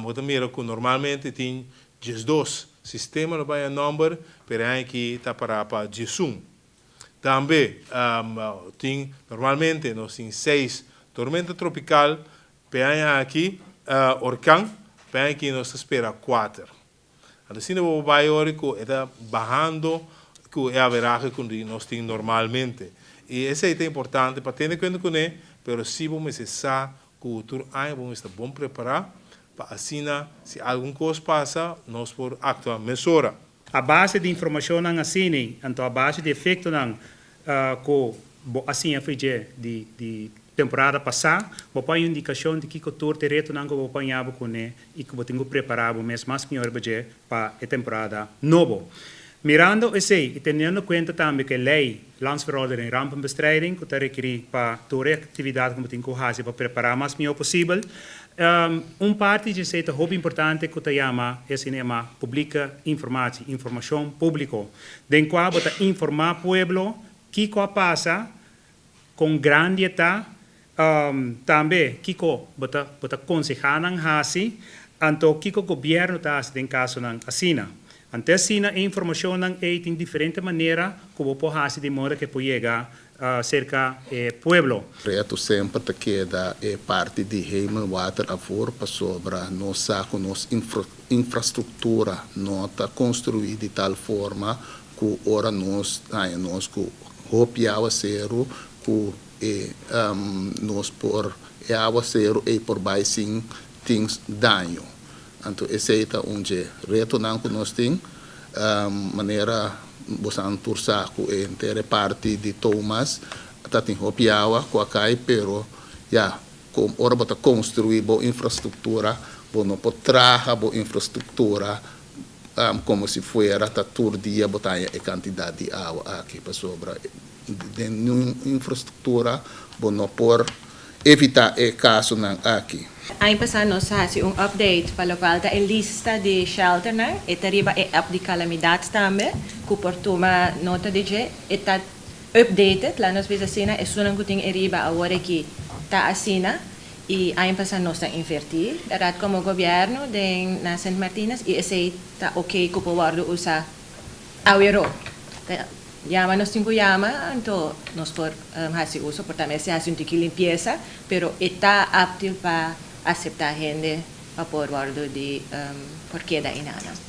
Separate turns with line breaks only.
Bo ta mira cu normalmente tin diesdos sistema lo baña nomber, pero e aña aki ta para pa diesun. Tambe tin normalmente nos tin seis tormenta tropical, p'e aña aki, orkan, p'e aña aki nos ta spera kuater. Anto asina bo bai ora ku e ta bahando ku e averahe ku nos tin normalmente. I esei ta importante pa tene kuenta kuné, pero si bo mester sa ku tur aña bo mester ta bon prepará pa asina si algun kos pasa nos por aktua mesora. A base di
informashonnan asina, anto a base di efektonan Cu bo a siña fe dje di temporada pasá, bo por a haña un indicacion di kico tur t'e retonan cu bo a paña bo cu ne i cu bo tin cu prepará bo mes mas mior riba dje pa e temporada nobo. Mirando esey i teniendo cuenta tambe cu e ley Landsverordening Rampenbestrijding cu ta rekerí pa tur e actividad cu bo tin cu haci pa prepará mas mior posibel, un parti dje esey ta hopi importante cu ta yama e asina yamá publieke informatie, informacion público. Den kua bo ta informá pueblo kiko a pasa, kon grandi e ta, tambe kiko bo ta bo ta konsehá nan hasi, anto kiko gobièrnu ta hasi den kasonan asina. Ante asina e informashonnan ei tin diferente manera ku bo por hasi di moda ku e por yega serka e pueblo. Reto semper
ta keda e parti di Hemelwater afor pasobra nos sa ku nos infrastruktura no ta konstruí di tal forma ku ora nos haña nos ku hopi awaseru ku e nos por e awaseru ei por bai sin tin daño. Anto esei ta un dje retonan ku nos tin, manera bosan tur sa ku e entere parti di Thomas ta tin hopi awa ku a kai, pero ya, ora bo ta konstruí bo infrastruktura, bo no por traha bo infrastruktura komo si fuera ta tur dia bo ta haña e kantidat di awa aki, pasobra den un infrastruktura bo no por. evitá e kasonan aki. Aña pasá nos
a hasi un update pa lokual ta e lista di shelternan, e ta riba e app di kalamidat tambe, ku por tuma nota di dje. E ta updated, la nos bisa asina, esunnan ku tin e riba awor aki ta asina i aña pasá nos ta invertí parat komo gobièrnu den na Sint Martinus i esei ta ok ku por wòrdu usá. Awero ta yama nos tin ku yama anto nos por hasi uso por ta mester hasi un tiki limpiesa pero e ta aptil pa aseptá hende pa por wòrdu di por keda inana.